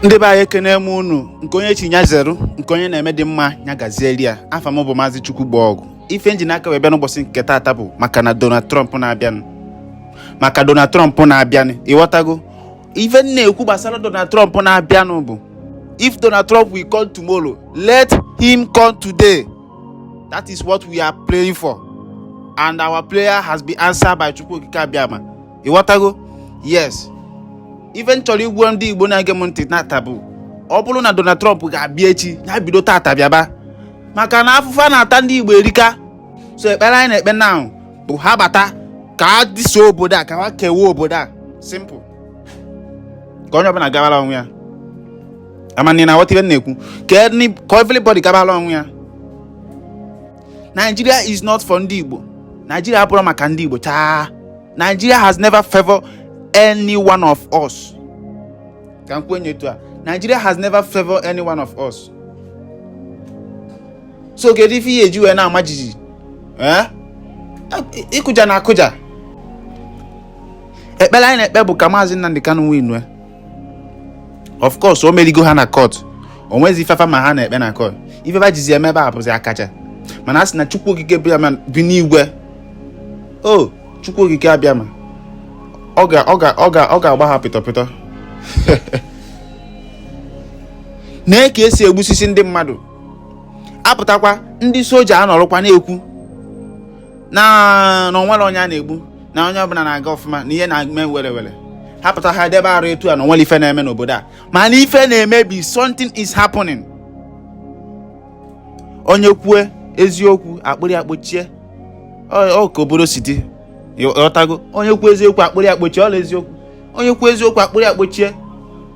ndị be anyị ekene m unu nke onye chi nya zeru nke onye na-eme dị mma nya gazieli ya afa m bụ maazị chukwu gba ọgụ ife m ji n'aka wee bịa n'ụbọchị nke taata bụ maka na donald trump na-abịanụ maka donald trump na-abịanụ ịghọtago ife m na-ekwu gbasara donald trump na-abịanụ bụ if donald trump will come tomorrow let him come today that is what we are praying for and our prayer has been answered by chukwu okike abịama ịghọtago yes ife m chọrọ ịgwa ndị igbo na-ege m ntị tata bụ ọ bụrụ na Donald Trump ga-abịa echi ya bido tata bịaba maka na afụfụ a na-ata ndị igbo erika so ekpere anyị na-ekpe now bụ ha bata ka ha dissolve obodo a ka ha kewaa obodo a simple ka onye ọbụla gabara onwe ya amana na aghọta ife m na-ekwu ka everybody gabara onwe ya Nigeria is not for ndị Igbo Nigeria abụrọ maka ndị Igbo chaa Nigeria has never favored any one of us ka m kwuo nya etu a Nigeria has never favored any one of us so kedu ife ha ji wee na-ama jijiji eh? ịkụja na akụja ekpere anyị na-ekpe bụ ka maazị Nnamdi Kanu win of course o merigo ha na court o nwezi ife fa ma ha na-ekpe na court ife fa jizi eme ebe a bụzi akacha mana a sị na chukwu okike abịama bi n'igwe o chukwu okike abịama ọ ga-agba ha pịtọ pịtọ na ka esi egbusisi ndị mmadụ apụtakwa ndị soja anọrọkwa na-ekwu na na o nwerọ onye a na-egbu na onye ọbụla na-aga ọfụma na ihe na-eme were were ha pụta ha debe arụ etu a na o nwerọ ife na-eme n'obodo a mana ife na-emebi something is happening onye kwue eziokwu akpụrụ ya kpọchie ọ ka obodo si dị ịghọtago onye kwuo eziokwu akpụrụ ya kpọchie ọla eziokwu onye kwuo eziokwu akpụrụ ya kpọchie